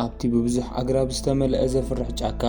ኣብቲ ብብዙሕ ኣግራብ ዝተመልአ ዘፍርሕ ጫካ፣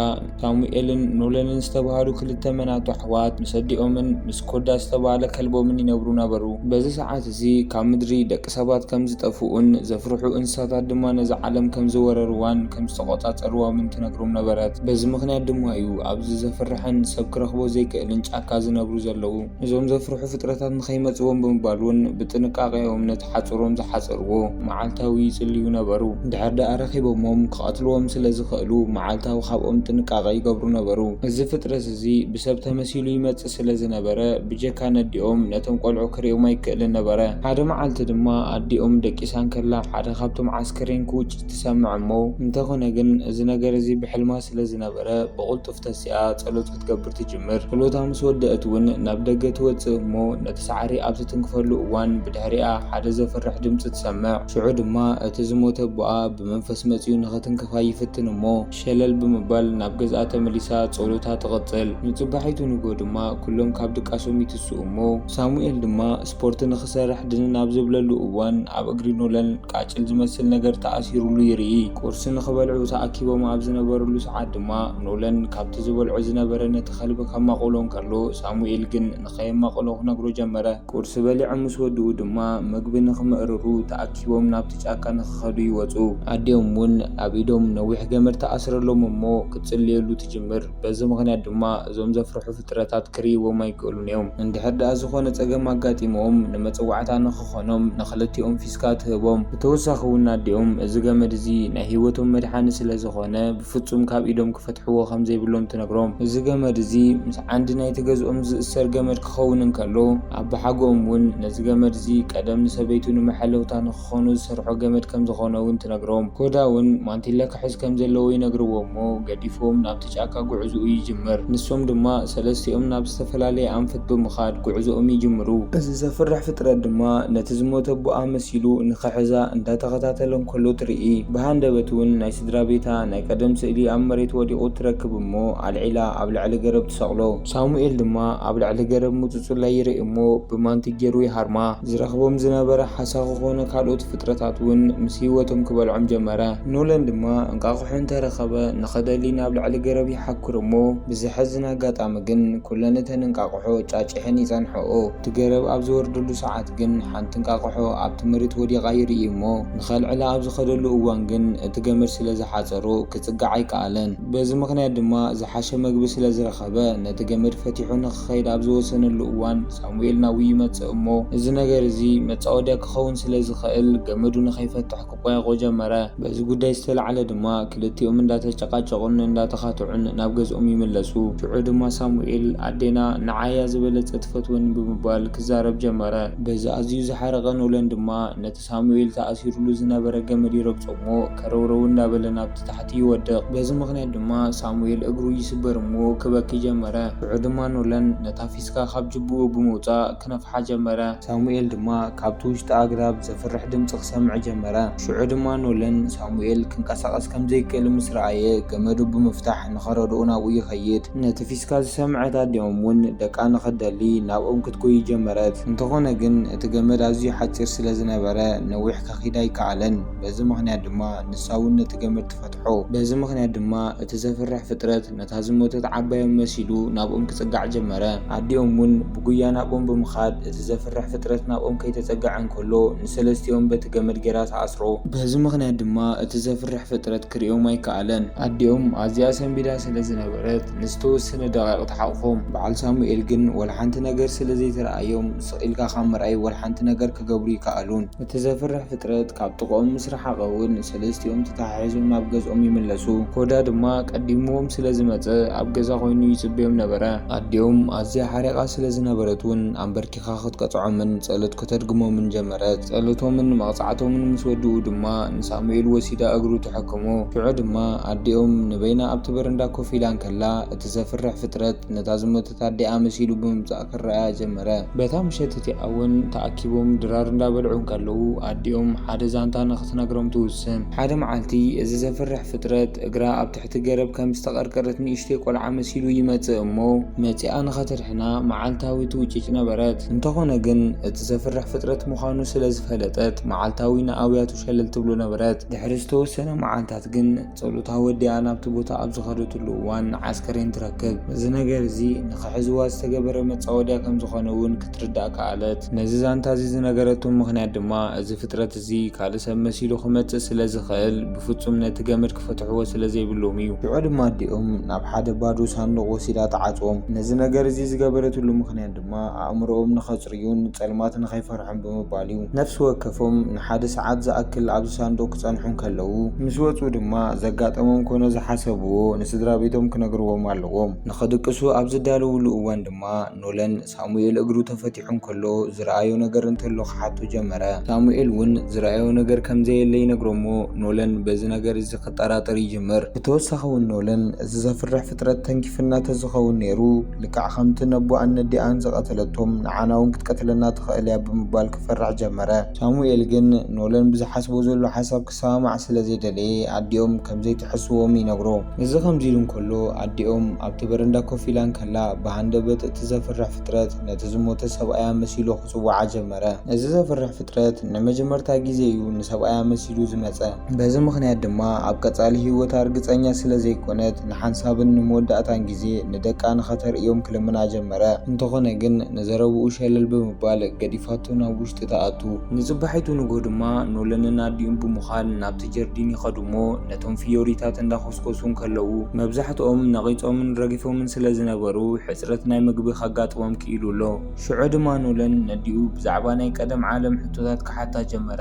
ሳሙኤልን ኖለንን ዝተባህሉ ክልተ መናቱ ኣሕዋት ምስ ኣዲኦምን ምስ ኮዳ ዝተባህለ ከልቦምን ይነብሩ ነበሩ። በዚ ሰዓት እዚ ካብ ምድሪ ደቂ ሰባት ከም ዝጠፍኡን ዘፍርሑ እንስሳታት ድማ ነዛ ዓለም ከም ዝወረርዋን ከም ዝተቖጻጸርዋምን ትነግሮም ነበረት። በዚ ምኽንያት ድማ እዩ ኣብዚ ዘፍርሕን ሰብ ክረኽቦ ዘይክእልን ጫካ ዝነብሩ ዘለዉ። እዞም ዘፍርሑ ፍጥረታት ንኸይመጽዎም ብምባል እውን ብጥንቃቐ እዮም ነቲ ሓጹሮም ዝሓጸርዎ መዓልታዊ ይጽልዩ ነበሩ። እንድሕር ደኣ ረኺቦሞም ክቐትልዎም ስለ ዝኽእሉ መዓልታዊ ካብኦም ጥንቃቐ ይገብሩ ነበሩ። እዚ ፍጥረት እዚ ብሰብ ተመሲሉ ይመጽእ ስለ ዝነበረ ብጀካ ነዲኦም ነቶም ቆልዑ ክርእዮም ኣይክእልን ነበረ። ሓደ መዓልቲ ድማ ኣዲኦም ደቂሳ እንከላ ሓደ ካብቶም ዓስከሬን ክውጭት ትሰምዕ እሞ እንተኾነ ግን እዚ ነገር እዚ ብሕልማ ስለ ዝነበረ ብቕልጡፍ ተሲኣ ጸሎት ክትገብር ትጅምር። ክሎታ ምስ ወደእት ውን ናብ ደገ ትወጽእ እሞ ነቲ ሳዕሪ ኣብ ትትንክፈሉ እዋን ብድሕሪኣ ሓደ ዘፍርሕ ድምጺ ትሰምዕ። ሽዑ ድማ እቲ ዝሞተ ኣቦኣ ብመንፈስ መጺኡ ንኽትንክፋ ይፍትን እሞ ሸለል ብምባል ናብ ገዝኣ ተመሊሳ ጸሎታ ትቕጽል። ንጽባሒቱ ንግሆ ድማ ኩሎም ካብ ድቃሶም ይትስኡ እሞ ሳሙኤል ድማ ስፖርት ንኽሰርሕ ድንን ኣብ ዝብለሉ እዋን፣ ኣብ እግሪ ኖላን ቃጭል ዝመስል ነገር ተኣሲሩሉ ይርኢ። ቁርሲ ንኽበልዑ ተኣኪቦም ኣብ ዝነበሩሉ ሰዓት ድማ፣ ኖላን ካብቲ ዝበልዖ ዝነበረ ነቲ ከልቢ ከማቕሎ እንከሎ፣ ሳሙኤል ግን ንኸየማቕሎ ክነግሮ ጀመረ። ቁርሲ በሊዖም ምስ ወድኡ ድማ፣ መግቢ ንኽምእርሩ ተኣኪቦም ናብቲ ጫካ ንኽኸዱ ይወጹ። ኣዲኦም እውን ኣብ ኢዶም ነዊሕ ገመድ ትኣስረሎም እሞ ክትጽልየሉ ትጅምር። በዚ ምኽንያት ድማ እዞም ዘፍርሑ ፍጥረታት ፍጥረታት ክርእይዎም ኣይክእሉን እዮም። እንድሕር ድኣ ዝኾነ ጸገም ኣጋጢምዎም ንመጸዋዕታ ንኽኾኖም ንኽልቲኦም ፊስካ ትህቦም። ብተወሳኺ እውን ኣዲኦም እዚ ገመድ እዚ ናይ ህይወቶም መድሓኒ ስለ ዝኾነ ብፍጹም ካብ ኢዶም ክፈትሕዎ ከም ዘይብሎም ትነግሮም። እዚ ገመድ እዚ ምስ ዓንዲ ናይቲ ገዝኦም ዝእሰር ገመድ ክኸውን እንከሎ ኣቦሓጎኦም እውን ነዚ ገመድ እዚ ቀደም ንሰበይቱ ንመሐለውታ ንኽኸውን፣ ክኾኑ ዝሰርሖ ገመድ ከም ዝኾነ'ውን ትነግሮም። ኮዳ'ውን ማንቲለ ክሕዝ ከም ዘለዎ ይነግርዎ'ሞ ገዲፍዎም ናብቲ ጫካ ጉዕዞኡ ይጅምር። ንሶም ድማ ሰለስቲኦም ናብ ዝተፈላለየ ኣንፈት ብምኻድ ጉዕዞኦም ይጅምሩ። እዚ ዘፍርሕ ፍጥረት ድማ ነቲ ዝሞተ ኣቦኣ መሲሉ ንኽሕዛ እንዳተኸታተለ እንከሎ ትርኢ። ብሃንደበት'ውን ናይ ስድራቤታ ናይ ቀደም ስእሊ ኣብ መሬት ወዲቑ ትረክብ'ሞ ኣልዒላ ኣብ ልዕሊ ገረብ ትሰቕሎ። ሳሙኤል ድማ ኣብ ልዕሊ ገረብ ምጹጹላይ ይርኢ እሞ ብማንኪ ገይሩ ይሃርማ። ዝረኽቦም ዝነበረ ሓሳኹ ኮነ ካልኦት ፍጥረታት እውን ምስ ህይወቶም ክበልዖም ጀመረ። ኖለን ድማ እንቃቑሖ እንተ ረኸበ ንኽደሊ ናብ ልዕሊ ገረብ ይሓኵር እሞ ብዘሕዝን ኣጋጣሚ ግን ኩለን እተን እንቃቑሖ ጫጪሐን ይጸንሕኦ። እቲ ገረብ ኣብ ዝወርደሉ ሰዓት ግን ሓንቲ እንቃቑሖ ኣብቲ መሬት ወዲቓ ይርኢ እሞ ንኸልዕላ ኣብ ዝኸደሉ እዋን ግን እቲ ገመድ ስለ ዝሓጸሮ ክጽጋዕ ኣይከኣለን። በዚ ምኽንያት ድማ ዝሓሸ መግቢ ስለ ዝረኸበ፣ ነቲ ገመድ ፈቲሑ ንኽኸይድ ኣብ ዝወሰነሉ እዋን፣ ሳሙኤል ናብኡ ይመጽእ እሞ፣ እዚ ነገር እዚ መጻወድያ ክኸውን ስለ ዝኽእል፣ ገመዱ ንኸይፈትሕ ክቈያቝ ጀመረ። በዚ ጕዳይ ዝተላዕለ ድማ፣ ክልቲኦም እንዳተጨቓጨቑን እንዳተኻትዑን ናብ ገዝኦም ይምለሱ። ሽዑ ድማ ሳሙኤል፣ ኣዴና ንዓይ'ያ ዝበለጸ ትፈትወኒ ብምባል ክዛረብ ጀመረ። በዚ ኣዝዩ ዝሓረቐ ኖለን ድማ፣ ነቲ። ሳሙኤል ተኣሲሩሉ ዝነበረ ገመድ ይረግጾ'ሞ ከረውረው እንዳበለ ናብቲ ታሕቲ ይወድቕ። በዚ ምኽንያት ድማ ሳሙኤል እግሩ ይስበር'ሞ ክበኪ ጀመረ። ሽዑ ድማ ኖለን ነታ ፊስካ ካብ ጅብኡ ብምውጻእ ክነፍሓ ጀመረ። ሳሙኤል ድማ ካብቲ ውሽጢ ኣግራብ ዘፍርሕ ድምጺ ክሰምዕ ጀመረ። ሽዑ ድማ ኖለን ሳሙኤል ክንቀሳቐስ ከም ዘይክእል ምስ ረኣየ ገመዱ ብምፍታሕ ንኸረድኦ ናብኡ ይኸይድ። ነቲ ፊስካ ዝሰምዐት ኣዲኦም'ውን ደቃ ንኽትደሊ ናብኦም ክትጎዪ ጀመረት። እንተኾነ ግን። እቲ ገመድ ኣዝዩ ሓጺር ስለ ዝነበረ ነዊሕ ከኺድ ኣይከኣለን። በዚ ምኽንያት ድማ ንሳ እውን ነቲ ገመድ ትፈትሖ። በዚ ምኽንያት ድማ እቲ ዘፍርሕ ፍጥረት ነታ ዝሞተት ዓባዮም መሲሉ ናብኦም ክጽጋዕ ጀመረ። ኣዲኦም እውን ብጉያ ናብኦም ብምኻድ እቲ ዘፍርሕ ፍጥረት ናብኦም ከይተጸገዐ እንከሎ ንሰለስቲኦም በቲ ገመድ ገይራ ትኣስሮ። በዚ ምኽንያት ድማ እቲ ዘፍርሕ ፍጥረት ክርእዮም ኣይከኣለን። ኣዲኦም ኣዝያ ሰንቢዳ ስለ ዝነበረት ንዝተወሰነ ደቓይቕ ትሓቑፎም። በዓል ሳሙኤል ግን ወላ ሓንቲ ነገር ስለ ዘይተርኣዮም፣ ስቕ ኢልካ ካብ ምርኣይ ወላ ሓንቲ ነገር ክገብሩ ኣይከኣሉን። እቲ ዘፍርሕ ፍጥረት ካብ ጥቕኦም ምስ ረሓቐ እውን ሰለስቲኦም ተተሓሒዞም ናብ ገዝኦም ይምለሱ። ኮዳ ድማ ቀዲምዎም ስለ ዝመጸ ኣብ ገዛ ኮይኑ ይጽበዮም ነበረ። ኣዲኦም ኣዝያ ሓሪቓ ስለ ዝነበረት እውን ኣምበርኪኻ ክትቀጽዖምን ጸሎት ከተድግሞምን ጀመረት። ጸሎቶምን መቕጻዕቶምን ምስ ወድኡ ድማ ንሳሙኤል ወሲዳ እግሩ ትሕክሞ። ሽዑ ድማ ኣዲኦም ንበይና ኣብቲ በረንዳ ኮፍ ኢላ እንከላ እቲ ዘፍርሕ ፍጥረት ነታ ዝሞተት ታዴኣ መሲሉ ብምምጻእ ክረኣያ ጀመረ። በታ ምሸት እቲኣ እውን ተኣኪቦም ድራር እንዳበልዑ እንከለዉ ኣዲኦም ሓደ ዛንታ ንኽትነግሮም ትውስን። ሓደ መዓልቲ እዚ ዘፍርሕ ፍጥረት እግራ ኣብ ትሕቲ ገረብ ከም ዝተቐርቀረት ንእሽተይ ቆልዓ መሲሉ ይመጽእ እሞ መጺኣ ንኸተድሕና መዓልታዊ ትውጭጭ ነበረት። እንተኾነ ግን እቲ ዘፍርሕ ፍጥረት ምዃኑ ስለ ዝፈለጠት መዓልታዊ ንኣውያቱ ሸለል ትብሎ ነበረት። ድሕሪ ዝተወሰነ መዓልታት ግን። ጸሎታ ወዲኣ ናብቲ ቦታ ኣብ ዝኸደትሉ እዋን ንዓስከሬን ትረክብ። እዚ ነገር እዚ ንኽሕዝዋ ዝተገበረ መጻወድያ ከም ዝኾነ እውን ክትርዳእ ከኣለት። ነዚ ዛንታ እዚ ዝነገረቶ ምኽንያት ድማ እዚ ፍጥረት እዚ ካልእ ሰብ መሲሉ ክመጽእ ስለ ዝኽእል ብፍጹም ነቲ ገመድ ክፈትሕዎ ስለ ዘይብሎም እዩ። ሽዑ ድማ ኣዲኦም ናብ ሓደ ባዶ ሳንዱቕ ወሲዳ ትዓጽዎም። ነዚ ነገር እዚ ዝገበረትሉ ምኽንያት ድማ። ድማ ኣእምሮኦም ንኸጽርዩን ጸልማት ንኸይፈርሑን ብምባል እዩ። ነፍሲ ወከፎም ንሓደ ሰዓት ዝኣክል ኣብዚ ሳንዱቕ ክጸንሑ እንከለዉ፣ ምስ ወጹ ድማ ዘጋጠሞም ኮነ ዝሓሰብዎ ንስድራ ቤቶም ክነግርዎም ኣለዎም ንኽድቅሱ ኣብ ዝዳለዉሉ እዋን ድማ ኖለን ሳሙኤል እግሩ ተፈቲሑ እንከሎ ዝረኣዮ ነገር እንተሎ ክሓቶ ጀመረ። ሳሙኤል እውን ዝረኣዮ ነገር ከም ዘየለ ይነግሮ'ሞ ኖለን በዚ ነገር እዚ ክጠራጠር ይጅምር። ብተወሳኺ እውን ኖለን እዚ ዘፍርሕ ፍጥረት ተንኪፍና ተዝኸውን ነይሩ፣ ልክዕ ከምቲ ነቦኣን ነዲኣን ዝቐተለቶም፣ ንዓና'ውን ክትቀትለና ትኽእል እያ ብምባል ክፈርሕ ጀመረ። ሳሙኤል ግን ኖለን ብዝሓስቦ ዘሎ ሓሳብ ክሰማማዕ ስለ ዘይደለየ ኣዲኦም ከም ዘይትሕስዎም ይነግሮ። እዚ ከምዚ ኢሉ እንከሎ ኣዲኦም ኣብቲ በረንዳ ኮፍ ኢላ እንከላ ብሃንደበት እቲ ዘፍርሕ ፍጥረት ነቲ ዝሞተ ሰብኣያ መሲሉ ጽውዓ ጀመረ። እዚ ዘፍርሕ ፍጥረት ንመጀመርታ ግዜ እዩ ንሰብኣይ ኣመሲሉ ዝመጸ። በዚ ምኽንያት ድማ ኣብ ቀጻሊ ህይወታ ርግጸኛ ስለ ዘይኰነት ንሓንሳብን ንመወዳእታን ግዜ ንደቃ ንኸተርእዮም ክልምና ጀመረ። እንተዀነ ግን ንዘረባኡ ሸለል ብምባል ገዲፋቶ ናብ ውሽጢ ትኣቱ። ንጽባሒቱ ንግሆ ድማ ኖለንን ኣዲኡን ብምዃን ናብቲ ጀርዲን ይኸዱ እሞ ነቶም ፍዮሪታት እንዳዀስኰሱ እንከለዉ መብዛሕትኦም ነቒጾምን ረጊፎምን ስለ ዝነበሩ ሕጽረት ናይ መግቢ ከጋጥሞም ክኢሉ ኣሎ። ሽዑ ድማ ኖለን ነዲኡ ብዛዕባ ናይ ቀደም ዓለም ሕቶታት ክሓታ ጀመረ።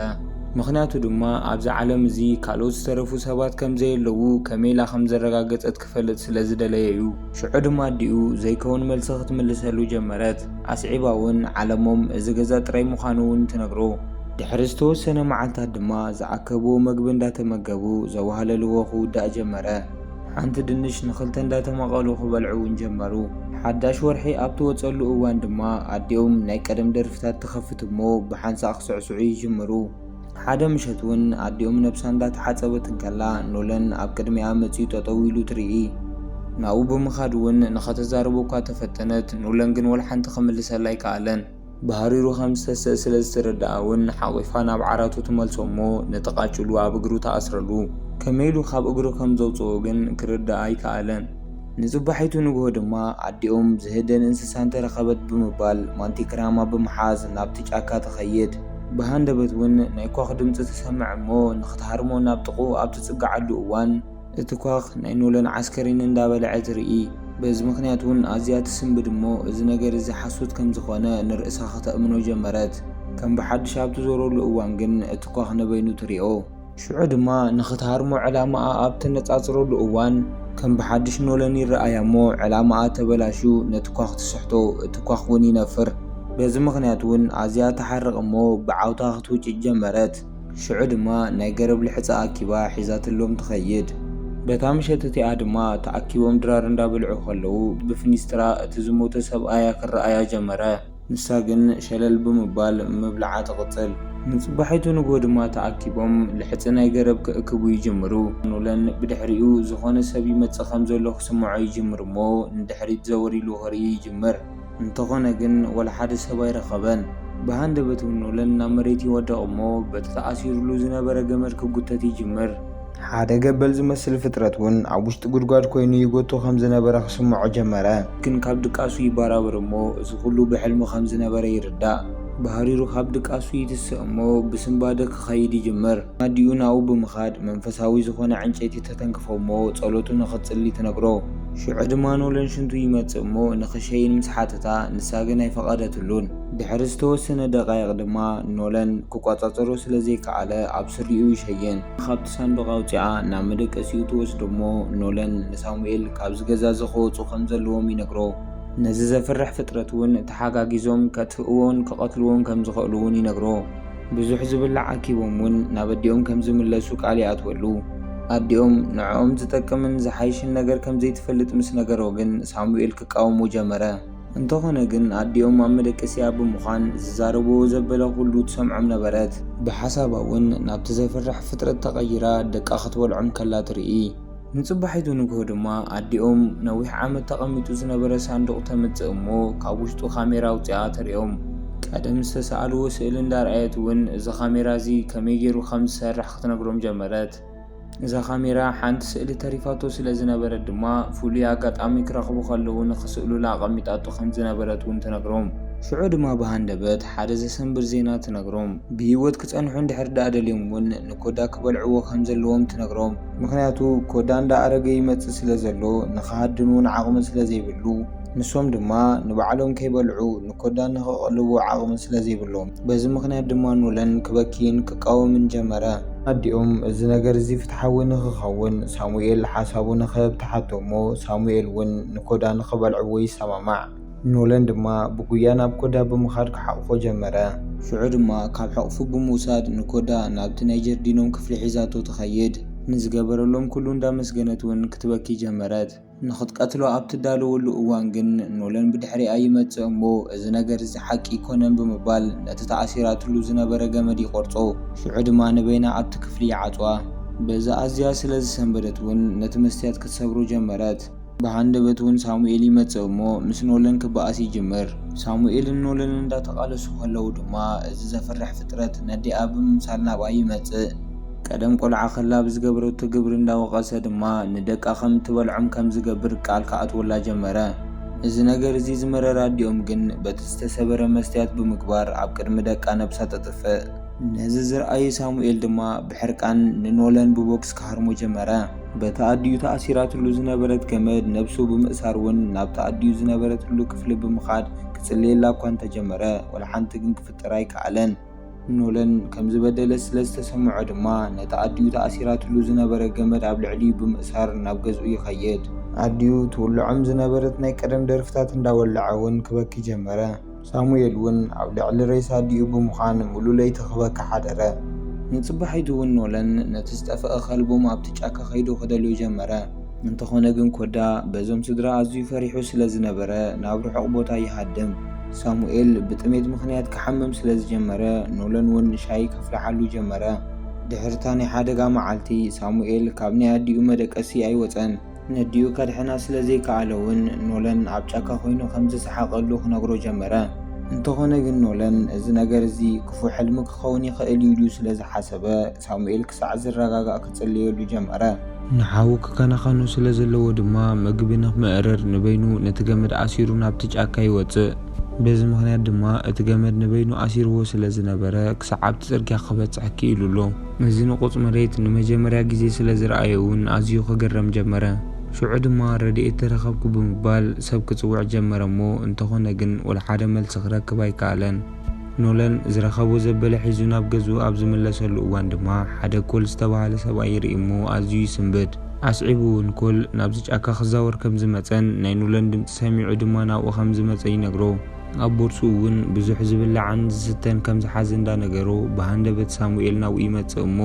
ምኽንያቱ ድማ ኣብዚ ዓለም እዚ ካልኦት ዝተረፉ ሰባት ከም ዘየለዉ ከመይ ኢላ ከም ዘረጋገጸት ክፈልጥ ስለ ዝደለየ'ዩ። ሽዑ ድማ ኣዲኡ ዘይከውን መልሲ ክትምልሰሉ ጀመረት። ኣስዒባ'ውን ዓለሞም እዚ ገዛ ጥራይ ምዃኑ'ውን ትነግሮ። ድሕሪ ዝተወሰነ መዓልታት ድማ ዝኣከብዎ መግቢ እንዳተመገቡ ዘዋህለልዎ ክውዳእ ጀመረ። ሓንቲ ድንሽ ንኽልተ እንዳተማቐሉ ክበልዑ እውን ጀመሩ። ሓዳሽ ወርሒ ኣብ ትወጸሉ እዋን ድማ ኣዲኦም ናይ ቀደም ደርፍታት ትኸፍት እሞ ብሓንሳእ ክስዕስዑ ይጅምሩ። ሓደ ምሸት እውን ኣዲኦም ነብሳ እንዳተሓጸበት እንከላ ኖለን ኣብ ቅድሚኣ መጺኡ ጠጠው ኢሉ ትርኢ። ናብኡ ብምኻድ እውን ንኸተዛርቦ እኳ ተፈተነት፣ ኖለን ግን ወላሓንቲ ክምልሰላ ኣይከኣለን። ብሃሪሩ ከም ዝተስእ ስለ ዝትረድኣ ውን ሓቚፋ ናብ ዓራቱ ትመልሶ እሞ ነቲ ቃጭሉ ኣብ እግሩ ትኣስረሉ። ከመይ ኢሉ ካብ እግሩ ከም ዘውጽኦ ግን ክርዳእ ኣይከኣለን። ንጽባሒቱ ንግሆ ድማ ኣዲኦም ዝህደን እንስሳ እንተ ረኸበት ብምባል ማንቲክራማ ብምሓዝ ናብቲ ጫካ ትኸይድ። ብሃንደበት ውን ናይ ኳዅ ድምጺ ትሰምዕ እሞ ንኽትሃርሞ ናብ ጥቕኡ ኣብ ትጽግዓሉ እዋን፣ እቲ ኳኽ ናይ ኖለን ዓስከሬን እንዳበልዐ ትርኢ በዚ ምኽንያት ውን ኣዝያ ትስንብድ እሞ እዚ ነገር እዚ ሓሶት ከም ዝኾነ ንርእሳ ከተእምኖ ጀመረት ከም ብሓድሽ ኣብ ትዞረሉ እዋን ግን እቲ ኳኽ ንበይኑ ትሪኦ ሽዑ ድማ ንኽትሃርሞ ዕላማኣ ኣብ ተነጻጽረሉ እዋን ከም ብሓድሽ ኖለን ይረኣያ እሞ ዕላማኣ ተበላሽዩ ነቲ ኳኽ ትስሕቶ እቲ ኳኽ ውን ይነፍር በዚ ምኽንያት ውን ኣዝያ ትሓርቕ እሞ ብዓውታ ክትውጭጭ ጀመረት። ሽዑ ድማ ናይ ገረብ ልሕጻ ኣኪባ ሒዛትሎም ትኸይድ። በታ ምሸት እቲኣ ድማ ተኣኪቦም ድራር እንዳበልዑ ከለዉ ብፍኒስትራ እቲ ዝሞተ ሰብኣያ ክረኣያ ጀመረ። ንሳ ግን ሸለል ብምባል ምብልዓ ትቕጽል። ንጽባሒቱ ንግሆ ድማ ተኣኪቦም ልሕጺ ናይ ገረብ ክእክቡ ይጅምሩ። ኖለን ብድሕሪኡ ዝኾነ ሰብ ይመጽእ ከም ዘሎ ክስምዖ ይጅምር'ሞ ንድሕሪት ዘወር ኢሉ ክርኢ ይጅምር። እንተኾነ ግን ወላ ሓደ ሰብ ኣይረኸበን። ብሃንደበት እውን ኖለን ናብ መሬት ይወድቕ እሞ በቲ ተኣሲሩሉ ዝነበረ ገመድ ክጉተት ይጅምር። ሓደ ገበል ዝመስል ፍጥረት እውን ኣብ ውሽጢ ጉድጓድ ኮይኑ ይጎቶ ከም ዝነበረ ክስምዖ ጀመረ። ግን ካብ ድቃሱ ይበራበር እሞ እዚ ኩሉ ብሕልሚ ከም ዝነበረ ይርዳእ። ብሃሪሩ ካብ ድቃሱ ይትስእ እሞ ብስንባደ ክኸይድ ይጅምር። ኣዲኡ ናብኡ ብምኻድ መንፈሳዊ ዝኾነ ዕንጨይቲ ተተንክፎ እሞ ጸሎቱ ንኽትጽሊ ትነግሮ። ሽዑ ድማ ኖለን ሽንቱ ይመጽእ እሞ ንኽሸይን ምስ ሓተታ ንሳ ግን ኣይፈቐደትሉን። ድሕሪ ዝተወሰነ ደቓይቕ ድማ ኖለን ክቆጻጸሮ ስለ ዘይከኣለ ኣብ ስሪኡ ይሸይን። ካብቲ ሳንዱቕ ኣውጺኣ ናብ መደቀሲኡ ትወስዶ እሞ ኖለን ንሳሙኤል ካብዚ ገዛ እዚ ክወጹ ከም ዘለዎም ይነግሮ። ነዚ ዘፍርሕ ፍጥረት እውን ተሓጋጊዞም ከጥፍእዎን ክቐትልዎን ከም ዝኸእሉ እውን ይነግሮ። ብዙሕ ዝብላዕ ኣኪቦም ውን ናብ ኣዲኦም ከም ዝምለሱ ቃል ይኣትወሉ። ኣዲኦም ንዕኦም ዝጠቅምን ዝሓይሽን ነገር ከም ዘይትፈልጥ ምስ ነገሮ ግን ሳሙኤል ክቃወሞ ጀመረ። እንተኾነ ግን ኣዲኦም ኣብ መደቀሲኣ ብምዃን ዝዛረብዎ ዘበለ ኩሉ ትሰምዖም ነበረት። ብሓሳባ ውን ናብቲ ዘፍርሕ ፍጥረት ተቐይራ ደቃ ክትበልዖም ከላ ትርኢ። ንጽባሒቱ ንግሆ ድማ ኣዲኦም ነዊሕ ዓመት ተቐሚጡ ዝነበረ ሳንዱቕ ተምጽእ እሞ ካብ ውሽጡ ካሜራ ኣውጺኣ ተርእዮም። ቀደም ዝተሰኣልዎ ስእሊ እንዳርኣየት እውን እዚ ካሜራ እዚ ከመይ ገይሩ ከም ዝሰርሕ ክትነግሮም ጀመረት። እዛ ካሜራ ሓንቲ ስእሊ ተሪፋቶ ስለ ዝነበረት ድማ ፍሉይ ኣጋጣሚ ክረኽቡ ከለዉ ንኽስእሉላ ኣቐሚጣቶ ከም ዝነበረት እውን ትነግሮም። ሽዑ ድማ ብሃንደበት ሓደ ዘሰንብድ ዜና ትነግሮም። ብህይወት ክጸንሑ እንድሕር ደኣ ደልዮም እውን ንኮዳ ክበልዕዎ ከም ዘለዎም ትነግሮም። ምኽንያቱ ኮዳ እንዳ ኣረገ ይመጽእ ስለ ዘሎ ንኽሃድን ውን ዓቕሚ ስለ ዘይብሉ ንሶም ድማ ንባዕሎም ከይበልዑ ንኮዳ ንኽቐልቡ ዓቕሚ ስለ ዘይብሎም በዚ ምኽንያት ድማ ኖለን ክበኪይን ክቃወምን ጀመረ። ኣዲኦም እዚ ነገር እዚ ፍትሓዊ ንኽኸውን ሳሙኤል ሓሳቡ ንኽህብ ትሓቶ እሞ ሳሙኤል ውን ንኮዳ ንኽበልዕዎ ይሰማማዕ። ኖለን ድማ ብጉያ ናብ ኮዳ ብምኻድ ክሓቝፎ ጀመረ። ሽዑ ድማ ካብ ሕቕፉ ብምውሳድ ንኮዳ ናብቲ ናይ ጀርዲኖም ክፍሊ ሒዛቶ ትኸይድ። ንዝገበረሎም ኩሉ እንዳመስገነት ውን ክትበኪ ጀመረት። ንኽትቀትሎ ኣብ ትዳለወሉ እዋን ግን ኖለን ብድሕሪኣ ይመጽእ እሞ እዚ ነገር እዚ ሓቂ ኣይኮነን ብምባል ነቲ ተኣሲራትሉ ዝነበረ ገመድ ይቖርጾ። ሽዑ ድማ ንበይና ኣብቲ ክፍሊ ይዓጽዋ። በዚ ኣዝያ ስለ ዝሰንበደት ውን ነቲ መስትያት ክትሰብሮ ጀመረት። ብሃንደበት እውን ሳሙኤል ይመጽእ እሞ ምስ ኖለን ክበኣስ ይጅምር። ሳሙኤልን ኖለን እንዳተቓለሱ ከለዉ ድማ እዚ ዘፍርሕ ፍጥረት ነዲኣ ብምምሳል ናብኣ ይመጽእ። ቀደም ቆልዓ ከላ ብዝገበረቶ ግብሪ እንዳወቐሰ ድማ ንደቃ ከም እትበልዖም ከም ዝገብር ቃል ክኣትወላ ጀመረ። እዚ ነገር እዚ ዝመረራ ኣዲኦም ግን በቲ ዝተሰበረ መስትያት ብምግባር ኣብ ቅድሚ ደቃ ነብሳ ተጥፍእ። ነዚ ዝረኣዩ ሳሙኤል ድማ ብሕርቃን ንኖለን ብቦክስ ክሃርሞ ጀመረ። በቲ ኣዲኡ ተኣሲራትሉ ዝነበረት ገመድ ነብሱ ብምእሳር እውን ናብቲ ኣዲኡ ዝነበረትሉ ክፍሊ ብምኻድ ክጽልየላ እኳ እንተጀመረ ወላ ሓንቲ ግን ክፍጥር ኣይከኣለን። ኖለን ከም ዝበደለ ስለ ዝተሰምዖ ድማ ነቲ ኣዲኡ ተኣሲራትሉ ዝነበረ ገመድ ኣብ ልዕሊኡ ብምእሳር ናብ ገዝኡ ይኸይድ። ኣዲኡ ትውልዖም ዝነበረት ናይ ቀደም ደርፍታት እንዳወለዐ እውን ክበኪ ጀመረ። ሳሙኤል እውን ኣብ ልዕሊ ሬሳ ኣዲኡ ብምዃን ምሉእ ለይቲ ክበኪ ሓደረ። ንጽባሒቱ እውን ኖለን ነቲ ዝጠፍኣ ከልቦም ኣብቲ ጫካ ከይዱ ክደልዮ ጀመረ። እንተኾነ ግን ኮዳ በዞም ስድራ ኣዝዩ ፈሪሑ ስለ ዝነበረ ናብ ርሑቕ ቦታ ይሃድም። ሳሙኤል ብጥሜት ምኽንያት ክሓምም ስለ ዝጀመረ ኖለን እውን ሻሂ ከፍልሓሉ ጀመረ። ድሕሪ እታ ናይ ሓደጋ መዓልቲ ሳሙኤል ካብ ናይ ኣዲኡ መደቀሲ ኣይወጸን። ነዲኡ ከድሕና ስለ ዘይከኣለ'ውን ኖለን ኣብ ጫካ ኰይኑ ከም ዝሰሓቐሉ ክነግሮ ጀመረ። እንተዀነ ግን ኖለን እዚ ነገር እዚ ክፉእ ሕልሚ ክኸውን ይኽእል እዩ ኢሉ ስለ ዝሓሰበ፣ ሳሙኤል ክሳዕ ዝረጋጋእ ክጽልየሉ ጀመረ። ንሓዉ ክከናኸኖ ስለ ዘለዎ ድማ መግቢ ንኽምእርር ንበይኑ ነቲ ገመድ ኣሲሩ ናብቲ ጫካ ይወጽእ። በዚ ምኽንያት ድማ እቲ ገመድ ንበይኑ ኣሲርዎ ስለ ዝነበረ ክሳዕ ኣብቲ ጽርግያ ክበጽሕ ክኢሉ ኣሎ። ነዚ ንቑጽ መሬት ንመጀመርያ ግዜ ስለ ዝረኣዮ እውን ኣዝዩ ክግረም ጀመረ። ሽዑ ድማ ረድኤት ተረኸብኩ ብምባል ሰብ ክጽውዕ ጀመረ እሞ እንተኾነ ግን ወልሓደ መልሲ ክረክብ ኣይከኣለን። ኖለን ዝረኸቦ ዘበለ ሒዙ ናብ ገዝኡ ኣብ ዝምለሰሉ እዋን ድማ ሓደ ኮል ዝተባህለ ሰብኣይ ይርኢ እሞ ኣዝዩ ይስንብድ። ኣስዒቡ እውን ኮል ናብዚ ጫካ ክዛወር ከም ዝመጸን ናይ ኖለን ድምጺ ሰሚዑ ድማ ናብኡ ከም ዝመጸ ይነግሮ። ኣብ ቦርስኡ እውን ብዙሕ ዝብላዕን ዝስተን ከም ዝሓዘ እንዳነገሮ፣ ብሃንደበት ሳሙኤል ናብኡ ይመጽእ እሞ፣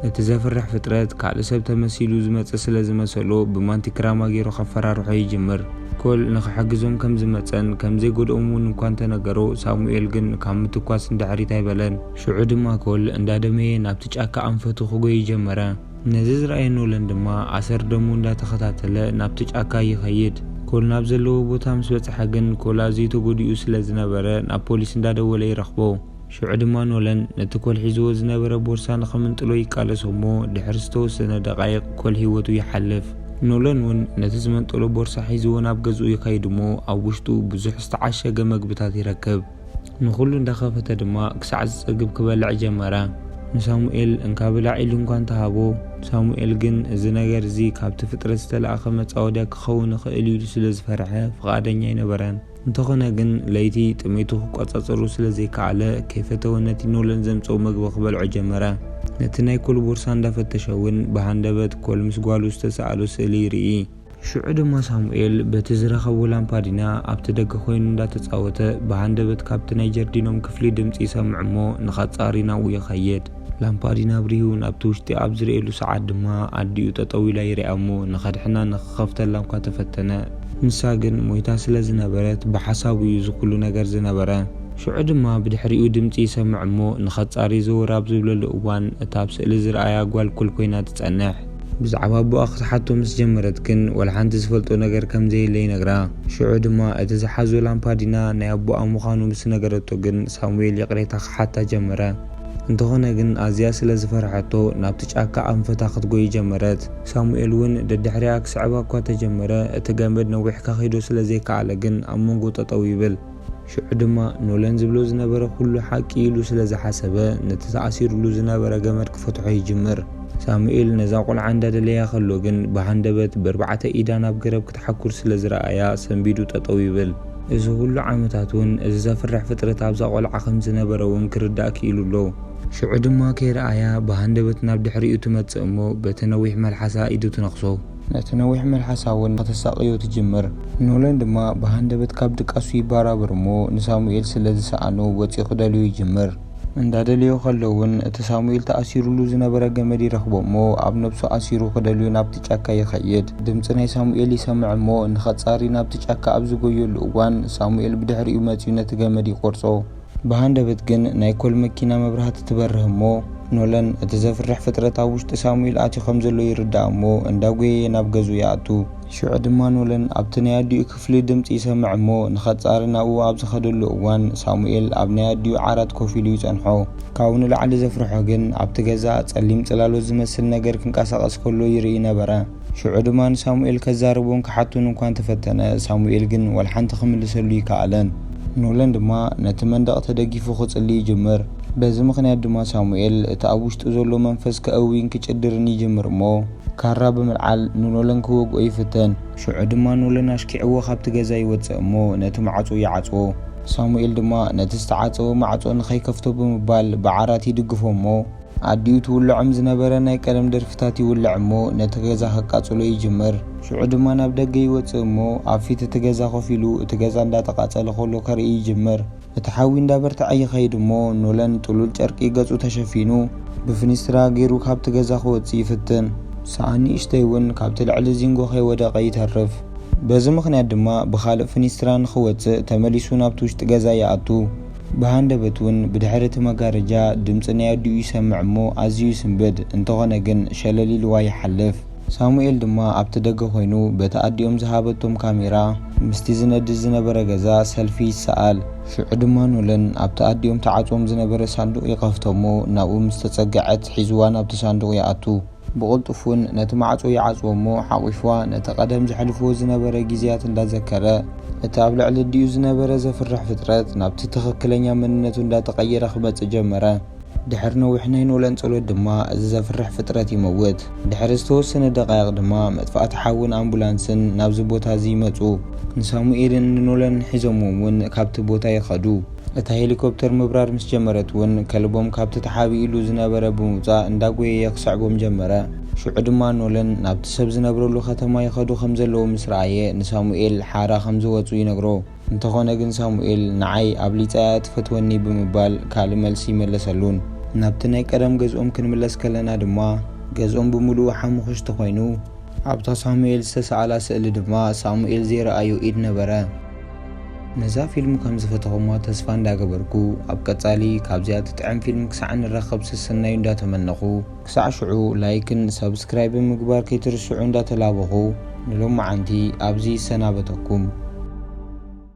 እቲ ዘፍርሕ ፍጥረት ካልእ ሰብ ተመሲሉ ዝመጸ ስለ ዝመሰሎ ብማንቲ ክራማ ገይሩ ከፈራርሖ ይጅምር። ኮል ንኽሕግዞም ከም ዝመጸን ከም ዘይጎድኦም እውን እኳ እንተነገሮ፣ ሳሙኤል ግን ካብ ምትኳስ ንድሕሪት ኣይበለን። ሽዑ ድማ ኮል እንዳደመየ ናብቲ ጫካ ኣንፈቱ ክጎዪ ጀመረ። ነዚ ዝረኣየ ኖለን ድማ ኣሰር ደሙ እንዳተኸታተለ ናብቲ ጫካ ይኸይድ። ኮል ናብ ዘለዎ ቦታ ምስ በጽሐ ግን ኮል ኣዝዩ ተጎዲኡ ስለ ዝነበረ ናብ ፖሊስ እንዳደወለ ይረኽቦ። ሽዑ ድማ ኖለን ነቲ ኮል ሒዝዎ ዝነበረ ቦርሳ ንኽምንጥሎ ይቃለሶ እሞ ድሕሪ ዝተወሰነ ደቓይቕ ኮል ህይወቱ ይሓልፍ። ኖለን ውን ነቲ ዝመንጠሎ ቦርሳ ሒዝዎ ናብ ገዝኡ ይኸይድ እሞ ኣብ ውሽጡ ብዙሕ ዝተዓሸገ መግብታት ይረክብ። ንዅሉ እንዳ ኸፈተ ድማ ክሳዕ ዝጸግብ ክበልዕ ጀመረ። ንሳሙኤል እንካ ብላዕ ኢሉ እንኳ እንተ ሃቦ፣ ሳሙኤል ግን እዚ ነገር እዚ ካብቲ ፍጥረት ዝተላእከ መጻወድያ ክኸውን ይኽእል እዩ ኢሉ ስለ ዝፈርሐ ፍቓደኛ ኣይነበረን። እንተ ዀነ ግን ለይቲ ጥሜቱ ክቈጻጸሮ ስለ ዘይከኣለ ከይፈተወ ነቲ ኖለን ዘምጽኦ ምግቢ ክበልዖ ጀመረ። ነቲ ናይ ኰል ቦርሳ እንዳ ፈተሸ እውን ብሃንደበት ኰል ምስ ጓሉ ዝተሰኣሎ ስእሊ ይርኢ። ሽዑ ድማ ሳሙኤል በቲ ዝረኸቦ ላምፓዲና ኣብቲ ደገ ኮይኑ እንዳተጻወተ ብሃንደበት ካብቲ ናይ ጀርዲኖም ክፍሊ ድምጺ ይሰምዕ እሞ ንኸጻሪ ናብኡ ይኸይድ። ላምፓዲና ኣብሪሁ ናብቲ ውሽጢ ኣብ ዝርእየሉ ሰዓት ድማ ኣዲኡ ጠጠው ኢላ ይሪኣ እሞ ንኸድሕና ንኽኸፍተላ እኳ ተፈተነ። ንሳ ግን ሞይታ ስለ ዝነበረት ብሓሳቡ እዩ እዚ ኩሉ ነገር ዝነበረ። ሽዑ ድማ ብድሕሪኡ ድምጺ ይሰምዕ እሞ ንኸጻሪ ዘወር ኣብ ዝብለሉ እዋን እታ ኣብ ስእሊ ዝርኣያ ጓል ኮል ኮይና ትጸንሕ። ብዛዕባ ኣቦኣ ክትሓቶ ምስ ጀመረት ግን ወላ ሓንቲ ዝፈልጦ ነገር ከም ዘየለ ይነግራ። ሽዑ ድማ እቲ ዝሓዞ ላምፓዲና ናይ ኣቦኣ ምዃኑ ምስ ነገረቶ ግን ሳሙኤል ይቕሬታ ክሓታ ጀመረ። እንተኾነ ግን ኣዝያ ስለ ዝፈርሐቶ ናብቲ ጫካ ኣንፈታ ክትጎዪ ጀመረት። ሳሙኤል እውን ደድሕሪኣ ክስዕባ እኳ ተጀመረ እቲ ገመድ ነዊሕ ከኺዶ ስለ ዘይከኣለ ግን ኣብ መንጎ ጠጠው ይብል። ሽዑ ድማ ኖለን ዝብሎ ዝነበረ ኩሉ ሓቂ ኢሉ ስለ ዝሓሰበ ነቲ ተኣሲሩሉ ዝነበረ ገመድ ክፈትሖ ይጅምር። ሳሙኤል ነዛ ቆልዓ እንዳደለያ ከሎ ግን ብሃንደበት በርባዕተ ኢዳ ናብ ገረብ ክትሓኩር ስለ ዝረኣያ ሰንቢዱ ጠጠው ይብል። እዚ ኩሉ ዓመታት ውን እዚ ዘፍርሕ ፍጥረት ኣብዛ ቆልዓ ከም ዝነበረ ውን ክርዳእ ክኢሉ ኣሎ። ሽዑ ድማ ከይረኣያ ብሃንደበት ናብ ድሕሪኡ ትመጽእ እሞ በቲ ነዊሕ መልሓሳ ኢዱ ትነኽሶ። ነቲ ነዊሕ መልሓሳ እውን ከተሳቕዮ ትጅምር። ኖለን ድማ ብሃንደበት ካብ ድቃሱ ይባራበር እሞ ንሳሙኤል ስለ ዝሰኣኖ ወጺኡ ክደልዮ ይጅምር። እንዳ ደለዮ ከሎ እውን እቲ ሳሙኤል ተኣሲሩሉ ዝነበረ ገመድ ይረኽቦ እሞ ኣብ ነብሱ ኣሲሩ ክደልዮ ናብቲ ጫካ ይኸይድ። ድምጺ ናይ ሳሙኤል ይሰምዕ እሞ ንኸጻሪ ናብቲ ጫካ ኣብ ዝጎየሉ እዋን ሳሙኤል ብድሕሪኡ መጺኡ ነቲ ገመድ ይቆርጾ። ብሃንደበት ግን ናይ ኮል መኪና መብራህቲ ትበርህ እሞ ኖለን እቲ ዘፍርሕ ፍጥረት ኣብ ውሽጢ ሳሙኤል ኣትዩ ከም ዘሎ ይርዳእ እሞ እንዳ ጎየየ ናብ ገዝኡ ይኣቱ። ሽዑ ድማ ኖለን ኣብቲ ናይ ኣዲኡ ክፍሊ ድምጺ ይሰምዕ እሞ ንኸጻሪ ናብኡ ኣብ ዝኸደሉ እዋን ሳሙኤል ኣብ ናይ ኣዲኡ ዓራት ኮፍ ኢሉ ይጸንሖ። ካብኡ ንላዕሊ ዘፍርሖ ግን ኣብቲ ገዛ ጸሊም ጽላሎት ዝመስል ነገር ክንቀሳቐስ ከሎ ይርኢ ነበረ። ሽዑ ድማ ንሳሙኤል ከዛርቦን ክሓቶን እኳ እንተ ፈተነ፣ ሳሙኤል ግን ዋላ ሓንቲ ክምልሰሉ ኣይከኣለን። ኖለን ድማ ነቲ መንደቕ ተደጊፉ ክጽሊ ይጅምር። በዚ ምኽንያት ድማ ሳሙኤል እቲ ኣብ ውሽጡ ዘሎ መንፈስ ከእዊን ክጭድርን ይጅምር እሞ፣ ካራ ብምልዓል ንኖለን ክወግኦ ይፍትን። ሽዑ ድማ ኖለን ኣሽኪዕዎ ካብቲ ገዛ ይወጽእ እሞ ነቲ ማዕጾ ይዓጽዎ። ሳሙኤል ድማ ነቲ ዝተዓጸወ ማዕጾ ንኸይከፍቶ ብምባል ብዓራት ይድግፎ እሞ፣ ኣዲኡ ትውልዖም ዝነበረ ናይ ቀደም ደርፍታት ይውልዕ እሞ ነቲ ገዛ ከቃጽሎ ይጅምር። ሽዑ ድማ ናብ ደገ ይወጽእ እሞ ኣብ ፊት እቲ ገዛ ኮፍ ኢሉ እቲ ገዛ እንዳተቃጸለ ከሎ ከርኢ ይጅምር። እቲ ሓዊ እንዳበርትዐ ይኸይድ እሞ ኖለን ጥሉል ጨርቂ ገጹ ተሸፊኑ ብፍኒስትራ ጌሩ ካብቲ ገዛ ክወጽእ ይፍትን። ሰኣን ንእሽተይ ውን ካብቲ ልዕሊ ዚንጎ ከይወደቐ ይተርፍ። በዚ ምኽንያት ድማ ብኻልእ ፍኒስትራ ንኽወጽእ ተመሊሱ ናብቲ ውሽጢ ገዛ ይኣቱ። ብሃንደበት ውን ብድሕሪ እቲ መጋረጃ ድምጺ ናይ ኣዲኡ ይሰምዕ እሞ ኣዝዩ ይስንብድ፣ እንተኾነ ግን ሸለል ኢልዋ ይሓልፍ። ሳሙኤል ድማ ኣብቲ ደገ ኮይኑ በቲ ኣዲኦም ዝሃበቶም ካሜራ ምስቲ ዝነድድ ዝነበረ ገዛ ሰልፊ ይሰኣል። ሽዑ ድማ ኖለን ኣብቲ ኣዲኦም ተዓጽዎም ዝነበረ ሳንዱቕ ይኸፍቶ እሞ ናብኡ ምስ ተጸግዐት ሒዝዋ ናብቲ ሳንዱቕ ይኣቱ። ብቕልጡፍ ውን ነቲ ማዕጾ ይዓጽዎ እሞ ሓቝፍዋ ነቲ ቀደም ዘሕልፍዎ ዝነበረ ግዜያት እንዳዘከረ እቲ ኣብ ልዕሊ ኣዲኡ ዝነበረ ዘፍርሕ ፍጥረት ናብቲ ትኽክለኛ መንነቱ እንዳተቐየረ ክመጽእ ጀመረ። ድሕሪ ነዊሕ ናይ ኖላን ጸሎት ድማ እዚ ዘፍርሕ ፍጥረት ይመውት። ድሕሪ ዝተወሰነ ደቓይቕ ድማ መጥፋእቲ ሓውን ኣምቡላንስን ናብዚ ቦታ እዚ ይመጹ። ንሳሙኤልን ንኖላንን ሒዞምዎም ውን ካብቲ ቦታ ይኸዱ። እታ ሄሊኮፕተር ምብራር ምስ ጀመረት እውን ከልቦም ካብቲ ተሓቢእሉ ዝነበረ ብምውጻእ እንዳጎየየ ክሰዕቦም ጀመረ። ሽዑ ድማ ኖለን ናብቲ ሰብ ዝነብረሉ ከተማ ይኸዱ ከም ዘለዉ ምስ ረኣየ ንሳሙኤል ሓራ ከም ዝወጹ ይነግሮ። እንተኾነ ግን ሳሙኤል ንዓይ ኣብሊጻ እያ እትፈትወኒ ብምባል ካልእ መልሲ ኣይመለሰሉን። ናብቲ ናይ ቀደም ገዝኦም ክንምለስ ከለና ድማ ገዝኦም ብምሉኡ ሓሙኹሽቲ ኮይኑ። ኣብታ ሳሙኤል ዝተሰኣላ ስእሊ ድማ ሳሙኤል ዘይረኣዮ ኢድ ነበረ። ነዛ ፊልም ከም ዝፈተኹምዋ ተስፋ እንዳ ገበርኩ ኣብ ቀጻሊ ካብዚኣ ትጥዕም ፊልም ክሳዕ ንራኸብ ሰሰናዩ እንዳ ተመነኹ ክሳዕ ሽዑ ላይክን ሳብስክራይብን ምግባር ከይትርስዑ እንዳ ተላበኹ ንሎምዓንቲ ኣብዚ ይሰናበተኩም።